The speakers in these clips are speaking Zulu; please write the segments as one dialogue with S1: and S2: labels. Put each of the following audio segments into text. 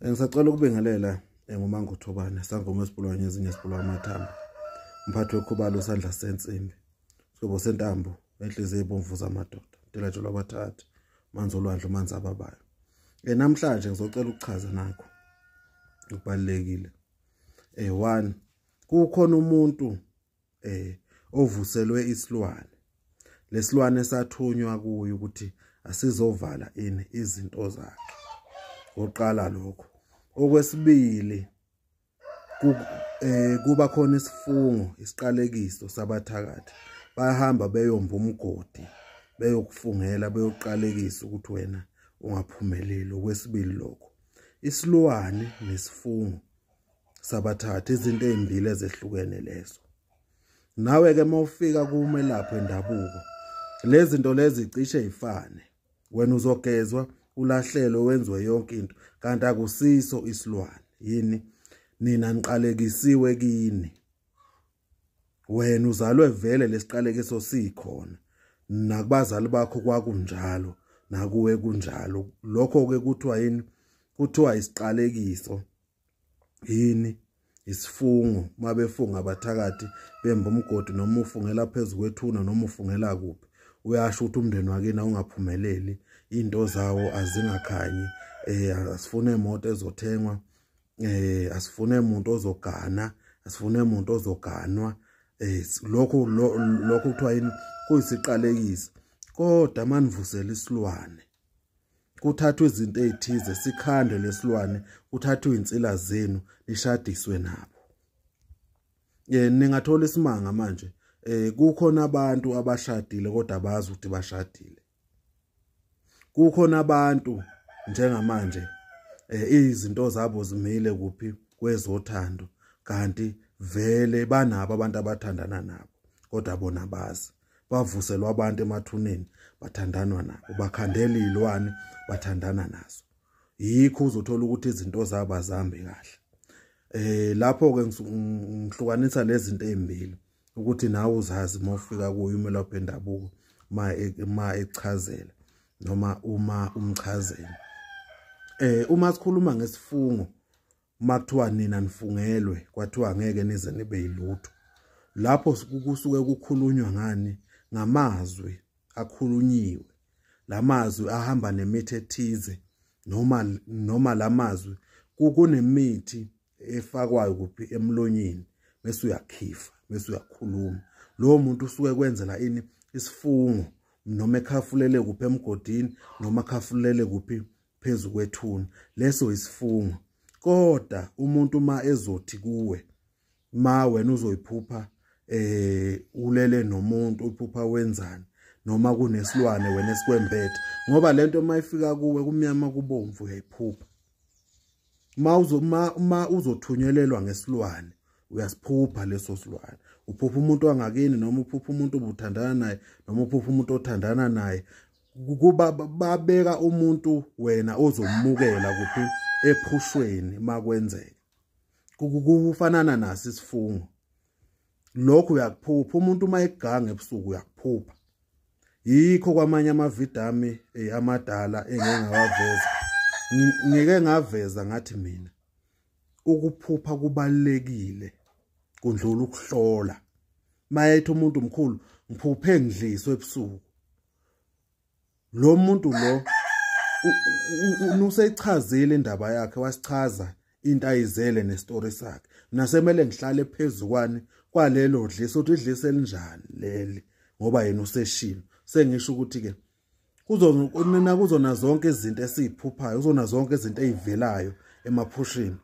S1: Eh, ngisacela ukubingelela eh, ngumanga uthobane sangoma esibulawa ngezinye esibulawa amathambo umphathi wekhubalo usandla sensimbi sigobo sentambo enhliziyo ebomvu zamadoda ntilatsho lwabathathi manzi olwandle umanzi ababayo um namhlanje ngizocela ukuchaza nakho okubalulekile um one kukhona umuntu eh ovuselwe isilwane lesilwane sathunywa kuyo ukuthi asizovala ini izinto zakhe oqala lokho okwesibili eh kuba khona isifungo isiqalekiso sabathakathi bayahamba beyomba umgodi beyokufungela beyoqalekisa ukuthi wena ungaphumeleli okwesibili lokho isilwane nesifungo sabathatha izinto ezimbili ezehlukene lezo nawe ke mawufika kumelaphi wendabuko lezi zinto lezi cishe ifane wena uzogezwa ulahlelo wenziwe yonke into kanti akusiso isilwane yini nina niqalekisiwe kini wena uzalwe vele lesiqalekiso sikhona nakubazali bakho kwakunjalo nakuwe kunjalo lokho ke kuthiwa yini kuthiwa isiqalekiso yini isifungo mabefunga abathakathi bemba umgodi noma ufungela phezu kwethuna noma ufungela kuphi uyasho ukuthi umndeni wakini awungaphumeleli into zawo azingakhanyi eh asifune imoto ezothengwa eh asifune umuntu ozogana asifune umuntu ozoganwa eh lokho lokho kuthiwa yini kuyisiqalekiso kodwa manivusela isilwane kuthathwa izinto ezithize sikhande lesilwane kuthathwa insila zenu nishadiswe nabo eh ningathola isimanga manje eh kukhona abantu abashadile kodwa abazi ukuthi bashadile kukhona abantu njengamanje eh izinto zabo zimile kuphi kwezothando kanti vele banabo abantu abathandana nabo kodwa bona bazi bavuselwa abantu emathuneni bathandanwa nabo bakhandela izilwane bathandana nazo yikho uzothola ukuthi izinto zabo azihambi kahle eh lapho ke ngihlukanisa lezi zinto ezimbili ukuthi nawe uzazi uma ufika kuyo umelaphi endabuko ma e, ma echazela noma uma umchazela eh uma sikhuluma ngesifungo uma kuthiwa nina nifungelwe kwathiwa ngeke nize nibe yilutho lapho kusuke kukhulunywa ngani ngamazwi akhulunyiwe lamazwi ahamba nemithi ethize noma noma lamazwi kunemithi efakwayo kuphi emlonyeni bese uyakhifa bese uyakhuluma lowo muntu usuke kwenzela ini isifungo noma ekhafulele kuphi emgodini noma khafulele kuphi phezu kwethuna leso isifungo kodwa umuntu uma ezothi kuwe ma wena uzoyiphupha eh ulele nomuntu uphupha wenzani noma kunesilwane wena esikwembethe ngoba lento uma ifika kuwe kumnyama kubomvu uyayiphupha ma uzo ma, ma uzothunyelelwa ngesilwane uyasiphupha leso silwane uphupha umuntu wangakini noma uphupha umuntu obuthandana naye noma uphupha umuntu othandana naye kuba babeka umuntu wena ozomukela kuphi ephushweni makwenzeka kufanana nasi isifungo lokho uyakuphupha umuntu uma eganga ebusuku uyakuphupha yikho kwamanye amavidiyo ami eh, amadala engeke ngawaveza ngeke ngaveza ngathi mina ukuphupha kubalekile kundlula ukuhlola mayethi umuntu mkhulu ngiphuphe ngidliswe ebusuku lo muntu lo useyichazile indaba yakhe wasichaza into ayizele nestory sakhe nasemele ngihlale phezulu kwani kwalelo dlisa uthi idlisa elinjani leli ngoba yena useshilo sengisho ukuthi ke kuzona kuzona zonke izinto esiziphuphayo kuzona zonke izinto ezivelayo emaphushini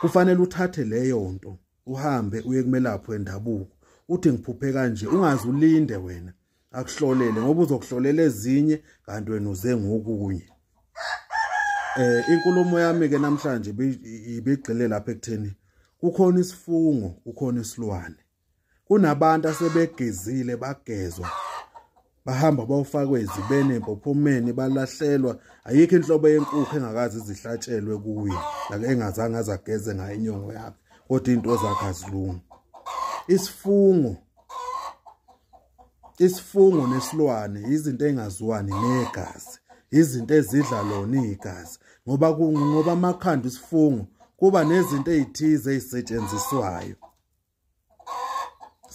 S1: kufanele uthathe leyo nto uhambe uye kumelapho endabuko uthi ngiphuphe kanje ungazi ulinde wena akuhlolele ngoba uzokuhlolela ezinye kanti wena uze ngokunye eh inkulumo yami ke namhlanje ibigxile lapha ekutheni kukhona isifungo kukhona isilwane kunabantu asebegezile bagezwa bahamba bawufakwe izibene empophomeni balahlelwa ayikho inhlobo yenkukhu engakazi zihlatshelwe kuye like engazange azageze ngayo inyongo yakhe kodwa into zakhe azilungi isifungo isifungo nesilwane izinto engaziwani negazi izinto ezidla lona igazi ngoba ngoba amakhanda isifungo kuba nezinto ezithize ezisetshenziswayo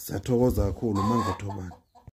S1: siyathokoza kakhulu mangothobani